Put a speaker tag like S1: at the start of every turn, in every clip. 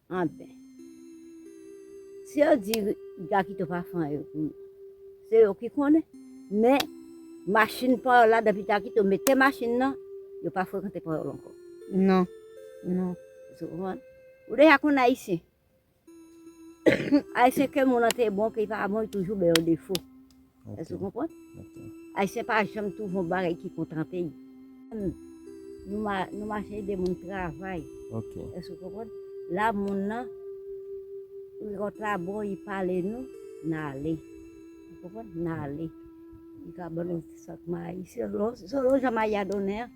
S1: Anben. Si yo di ga kite pa fan yo pou yo. Se yo ki konnen. Men, machin pa yo la depi ga kite mete machin nan, yo pa frekante pa yo ankò. Non.
S2: Non. Sou konprann?
S1: Ou deja konn Ayisyen. Ayisyen ke moun nan te bon, ke li pa bon, li toujou bay yon defo. Èske ou konprann? Ayisyen pa janm twouve yon bagay ki kontante li. Nou mache ede moun travay. Èske ou
S3: konprann?
S1: La moun nan ront la bo li pale nou, n ale. Ou konprann? N ale. Li ka ban nou ti sak mayi. Selon jan mayi a donnen an.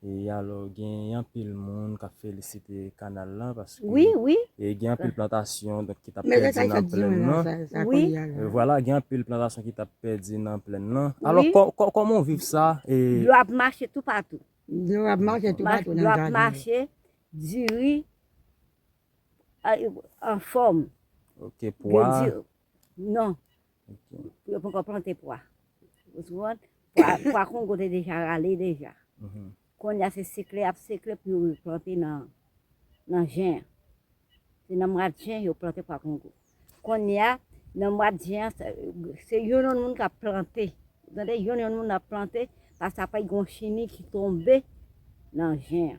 S3: E alò gen anpil moun kap felisite kanal lan paske e gen
S1: anpil
S3: plantasyon donk ki tap pèdi nan plèn
S2: lan. E
S1: vwala gen
S3: anpil plantasyon ki tap pèdi nan plèn lan. Alò kòman
S1: ou viv
S3: sa e. Dlo ap mache toupatou.
S1: Dlo ap mache
S2: toupatou nan jaden yo.
S1: Diri anfòm. Ok pwa.
S3: Non. pou yo poko plante
S1: pwa. Ou sou mwen? Pwa kongo te deja rale deja. Mhm. Kon ya se sekle ap sekle pou yo plante nan jen. Se nan mwa jen yo plante pwa kongo. Kon ya nan mwa jen se yon yon moun ka plante. Gade yon yon moun ap plante pa sa pa yon chini ki tombe nan jen.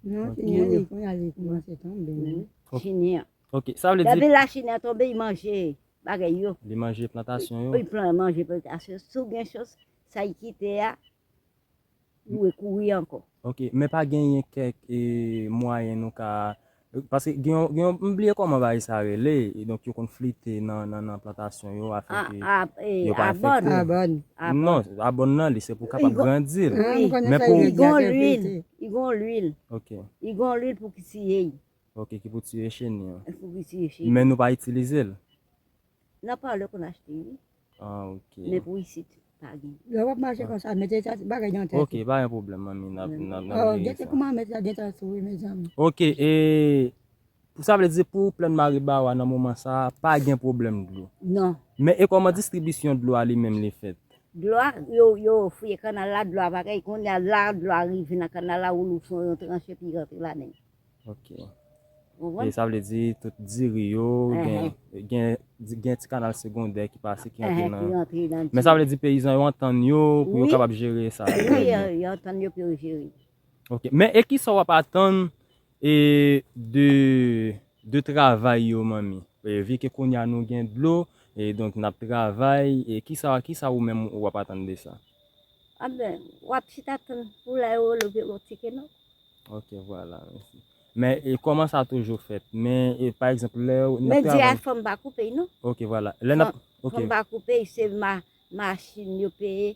S1: Nan chini
S2: an li pou ya li pou ya se tombe. Chini an.
S1: Ok, sa vle di. Davi
S3: la chini an tombe y
S1: manje. bagay yo. Li
S3: manje plantasyon yo. Li pran manje
S1: plantasyon yo. Si w gen chans, sa y kite a, ou dwe kouri ankò. Ok, men pa genyen
S3: kèk mwayen nou ka, paske gen yon, gen yon, m bliye kòman bagay sa rele, e donk yo konn flite nan, nan, nan plantasyon yo afin ke yo pa enfekte. Abòn. Abòn.
S2: Non, abòn
S3: nan li se pou kapab grandi l. Li
S2: gon lwil,
S1: li gon lwil. Ok. Li gon
S3: lwil pou ki
S1: siye y. Ok ki pou tiye
S3: cheni an. Pou ki tiye cheni. Men
S1: nou pa itilize l. Nan parlor konn achte wi. Ah ok.
S3: Men pou isit
S1: pa gen. Lè wap
S2: mache konsa mete bagay nan tèt ou. Ok pa gen pwoblèm manmi
S3: nap veye sa. Oh gen te kouman
S2: met la gen ta sou wi mezanmi. Ok e
S3: sa vle di pou plèn maribawa nan moman sa pa gen pwoblèm dlo. Non. Men e kòman distribisyon dlo a li menm li fèt. Dlo a
S1: yo fouye kanal la dlo a pa gen kounya la dlo a rive nan kanal la ou louvri yon tranche epi li rantre ladann. Ok.
S3: Ou konprann? E sa vle di tout diri yo gen, gen gen ti kanal segondè ki pase ki antre nan. Ki antre nan diri. Men sa vle di peyizan yo antann yo pou yo kapab jere sa. Wi, yo antann
S1: yo pou yo jere. Ok. Men e
S3: kisa w ap atann e de de travay yo manmi? Vi ke kounye a nou gen dlo, e donk n ap travay, e kisa kisa ou menm ou ap atann de sa? Anben,
S1: w ap chita tann pou w la yo rele w ti keno. Ok vwala
S3: mesi. Men e koman sa toujou fet. Men e pa egzanp le ou nan travay. Men di a fom
S1: pa koupe y non. Ok vwala. Le nap
S3: ok. Fom pa
S1: koupe y se ma machin yo peye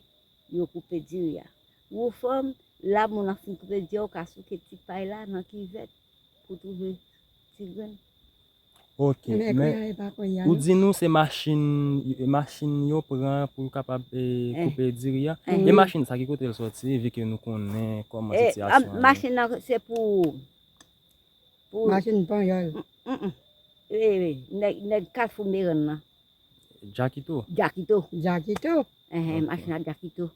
S1: yo koupe diri a. Wou fom la moun an fin koupe di a ou ka souke ti pay la nan kivèt pou touve ti grenn. Ok
S3: men ou di nou se machin machin yo pran pou yo kapab koupe diri a e machin sa ki kote l soti epi ke nou konnen kòman sitiyasyon an machin nan se pou
S1: pou
S2: machin panyòl
S1: nèg kafou merann nan jakito
S3: jakito jakito
S1: machin nan jakito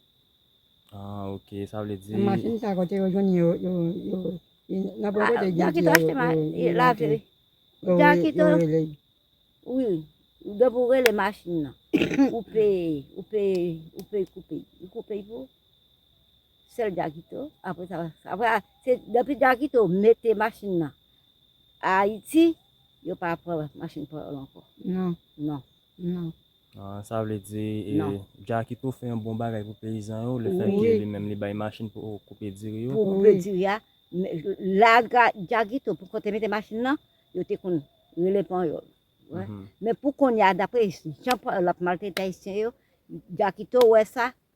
S1: Ah
S3: ok, sa vle di. Machin sa kote yo jwenn
S2: yo yo yo nan bon kote gen di yo yo
S1: lavi. Jakito wi ou gen pou rele machin nan ou pe ou pe ou pe koupe ou koupe pou sèl jakito apre sa apre se depi jakito mete machin nan Ayiti yo pa pran machin pou yo ankò non. Non. Ah, sa
S3: vle di e, Non. Jacky tou fè yon bon bagay pou peyizan yo, le fè ke li menm li bay machin pou koupe diri yo. Pou koupe diri a,
S1: la Jacky tou pou kont te mete machin nan, yo te konn rele panyòl. Men pou kounye a, dapre jan panyòl ap maltrete ayisyen yo, Jacky tou wè sa,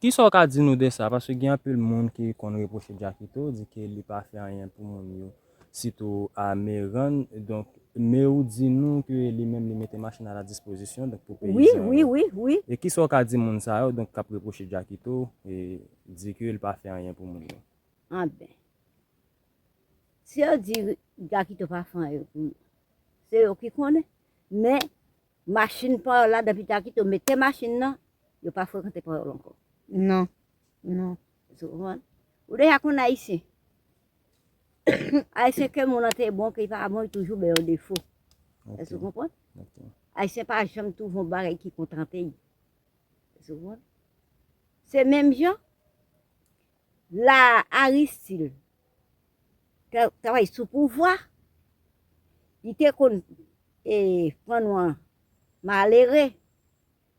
S3: Kisa w ka di nou de sa? Paske gen anpil moun ki konn repwoche Jackito, di ke li pa fè anyen pou moun yo, sitou a Meyran. Donk, Meyou di nou ke li menm li mete machin a la dispozisyon, donk pou peyizan yo. E
S1: kisa w ka di moun
S3: sa yo, donk k ap repwoche Jackito, e di ke li pa fè anyen pou moun yo? Anben,
S1: si yo di Jackito pa fè anyen pou yo, se yo ki konnen. Men, Machin payòl la depi Jakito mete machin nan yo pa frekante payòl ankò non non
S2: èske ou konprann
S1: ou deja konn ayisyen ayisyen ke moun an te bon ke li pa bon li toujou bay yon defo èske ou konprann ayisyen
S3: pa janm
S1: twouve yon bagay ki kontante li èske ou konprann se menm jan La Aristide tap travay sou pouvwa, li te konn e pran nou an malere,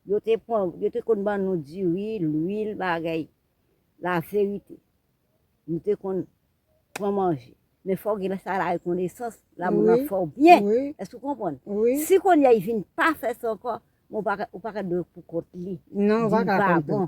S1: yo te pran, yo te konn ban nou diri, lwil, bagay, la verite. Nou te konn pran manje. Men fò gen sa la rekonesans, la moun ap fè w byen. Èske ou konprann? Si kounye a li
S2: vin
S1: pa fè sa ankò, ou pa ka dwe pou kont li. Non, ou pa ka
S2: konprann.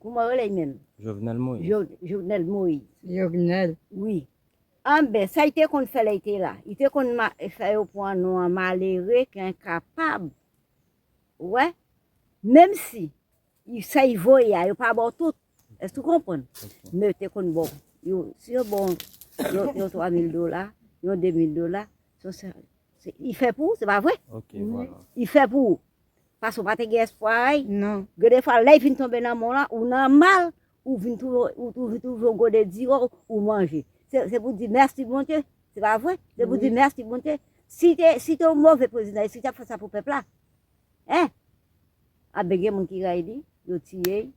S1: Kouman yo rele menm? Jovenel Moïse.
S3: Jovenel
S1: Moïse. Jovenel.
S2: Wi.
S1: Anben, sa li te konn fè lè li te la? Li te konn fè yo pran non an malere ki enkapab. Ou wè? Menm si sa li voye a, yo pa ba w tout. Èske ou konprann? Men yo te konn ba w. Si yo ba w yon twa mil dola, yon de mil dola, li fè pou ou, se pa vre? Li
S3: fè pou ou.
S1: Pase ou pa te gen espwa ay non. Gen de fwa
S2: lèy fin
S1: tonbe nan menw la ou nan mal ou vin touve yon gode diwo ou manje se pou di mèsi bondye se pa vre se pou di mèsi bondye si te yon move prezidan eske tap fè sa pou pèp la hein anben gen moun ki ray li yo tiyel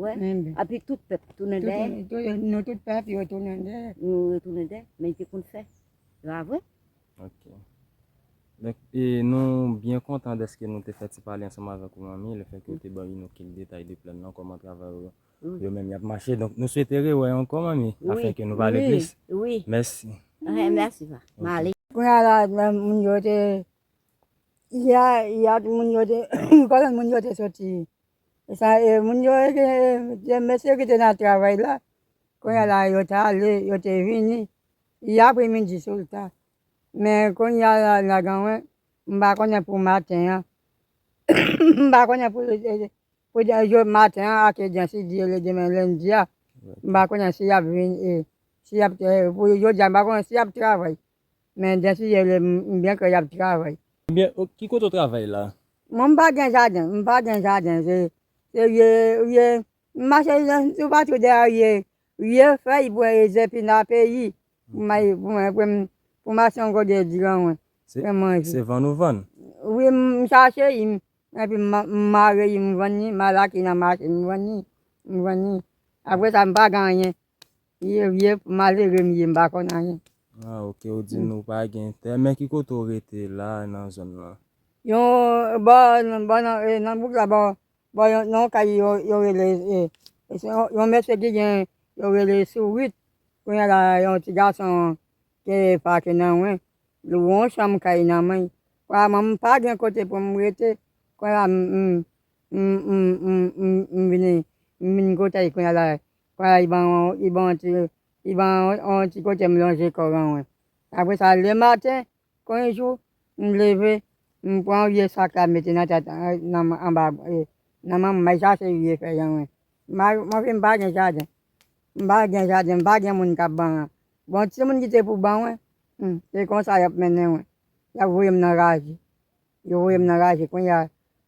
S1: wè api tout pèp tounen dèyèl nou tout pèp yo
S2: tounen dèyèl
S1: men li te konn fè se pa vre. Ok
S3: Donk e nou byen kontan dèske nou te fè ti pale ansanm avèk ou manmi, le fè ke ou te ban Inoh kil detay de plan nan, kòman travay ou yo menm yap mache, donk nou swete rewè ankò manmi afin ke nou pale plis. Mèsi. Ok mèsi pa.
S1: Male. Kounye a la
S2: moun yo te Yè yè tout moun yo te konnen moun yo te soti e sa e moun yo te mesye ki te nan travay la kounye a la yo te ale yo te vini Li apremidi sou lta men kounya la ganwen m pa konnen pou maten an m pa konnen pou pou maten an ak jan si di rele demen lendi a m pa konnen si yap vin e si yap pou jodi a m pa konnen si yap travay men jan si di rele m byen kwè yap travay. Ebyen ok ki kote
S3: w travay la? Mwen m pa gen jaden
S2: m pa gen jaden se se rye rye m mache sou patou dèyè rye Riel fèy bwè rèzè pi nan peyi pou may pou mwen pou m pou m achte yon gòdè diran mwen pou m manje. Se
S3: vann ou vann? Wi m
S2: chache li m epi m mare li m vann li m al achte nan mache m vann li m vann li apre sa m pa gen anyen ye vye malere m ye m pa konn anyen. Ah ok ou
S3: di nou pa gen tè men ki kote ou rete la nan zòn lan? Yon
S2: bò bò nan bouk la bò Bon yon nan yon kay yo yo rele yon mesye ki gen yo rele sourit kounya la yon ti gason te pake nan wen lou yon chanm kay nan men kounya mwen m pa gen kote pou m rete kounya m m vini m vini kote l kounya la kounya li ban yon li ban yon ti li ban yon ti kote m lonje kò m nan wen apresa lematen Kon yon jou, m leve, m pran yon vye sak la m mete nan tèt nan anba nan manmwen, m al chache vye fèy anwen. M pa mwen menm m pa gen jaden, m pa gen jaden, m pa gen moun k ap ban mwen. Bon timoun ki te pou ban mwen, hum, se konsa y ap mennen mwen, y ap voye m nan raje. Yo voye m nan raje kounye a,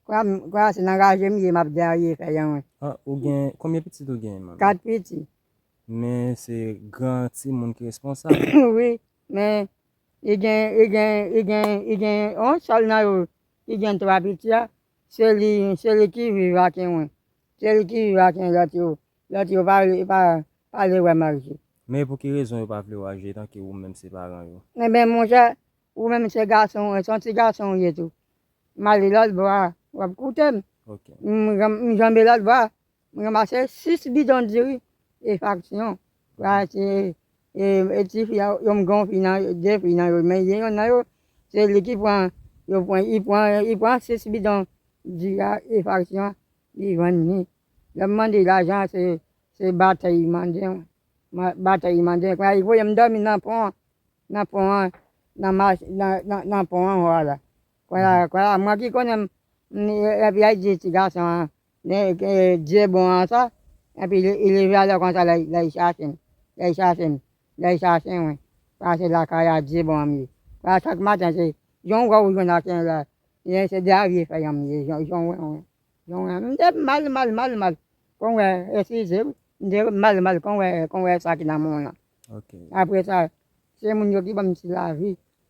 S2: kounye a se nan raje m ye m ap derye fèy anwen. Ah, ou gen,
S3: konbyen pitit ou gen manmi? Kat piti.
S2: Men
S3: se gran timoun ki responsab? Wi, Men,
S2: li gen, li gen, li gen, li gen yon sèl nan yo ki gen twa piti a, se li, se li ki viv ak Enwen. Se li ki viv ak lòt yo. Lòt yo pa vle, pa, pa vle wè Margie. Men pou ki rezon yo
S3: pa vle wè Agie etan ke ou menm se paran yo? Enben, monchè,
S2: ou menm se gason, se yon ti gason ou ye tou. M ale lòt bò a, w ap koute m. Ok.
S3: M janbe
S2: lòt bò a, Mwen ranmase 6 bidon diri e faksyon pou achte e ti fi a yon mgon fi nan yo 2 fi nan yo men gen yonn nan yo se li ki pran yo pran li pran li pran 6 bidon diri a e faksyon an li vann li lè m mande lajan se se batèy li mande mwen mwen batèy li mande kounye a li voye m dòmi nan pon an nan pon an nan ma nan nan pon an anwa la. Kwela kwela mwen ki konnen m epi yal di ti gason an Dieu bon an sa epi il est jaloux konsa lèl chache m lèl chache m lèl chache mwen sa se lakay a Dieu bon an m ye kwela chak maten se jon wè ou jwenn ak yon lè e se de avye fè yon m ye jon wè wi jon wè m te mal mal mal mal kon wè eskize wi m te mal mal kon wè kon wè sa ki nan mwen w lan apresa se moun yo ki banm ti lavi.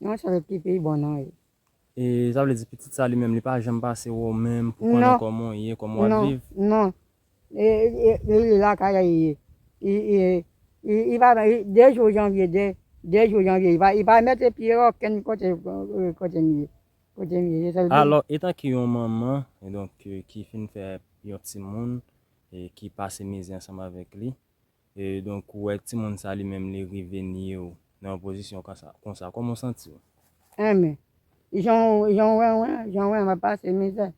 S2: Yon charèt ki pi bon non e. E sa vle
S3: di pitit sa li menm li pa janm pase wè w menm pou konnen kòman w ye, kòman w ap viv? Non,
S2: non. Li lakay la li ye. Li pa vle, de jou janvye, de jou janvye li pa mete pye okenn kote kote m ye. Kote m ye.
S3: Alò, etan ke yon manman e donk ki fin fè yon timoun e ki pase mizè ansanm avèk li, E donk ou wè timoun sa li menm li rive nye w nan yon pozisyon konsa kòman w santi w? Amy,
S2: Jan w wè mwen an, jan w wè m ap pase mizè,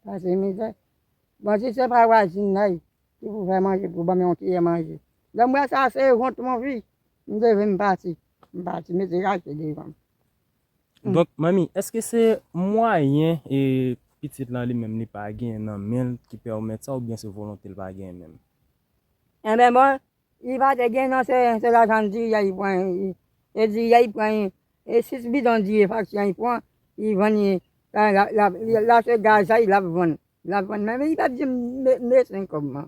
S2: pase mizè, bon si se pa vwazin la ki pou fè manje pou ban m yon kiyè manje, lè m wè sa se wont m anvi m leve m pati, m pati mete kache devan m.
S3: Donk manmi èske se mwayen pitit lan li menm li pa genyen nan men l ki pèmèt sa oubyen se volonte l pa genyen menm? Enben
S2: bon, li pa te gen non se lajan diri a li pran, e diri a li pran e 6 bidon diri faksyon an li pran li vann li la se gaz la lap vann, lap vann men li pap dim me 5 kòb man.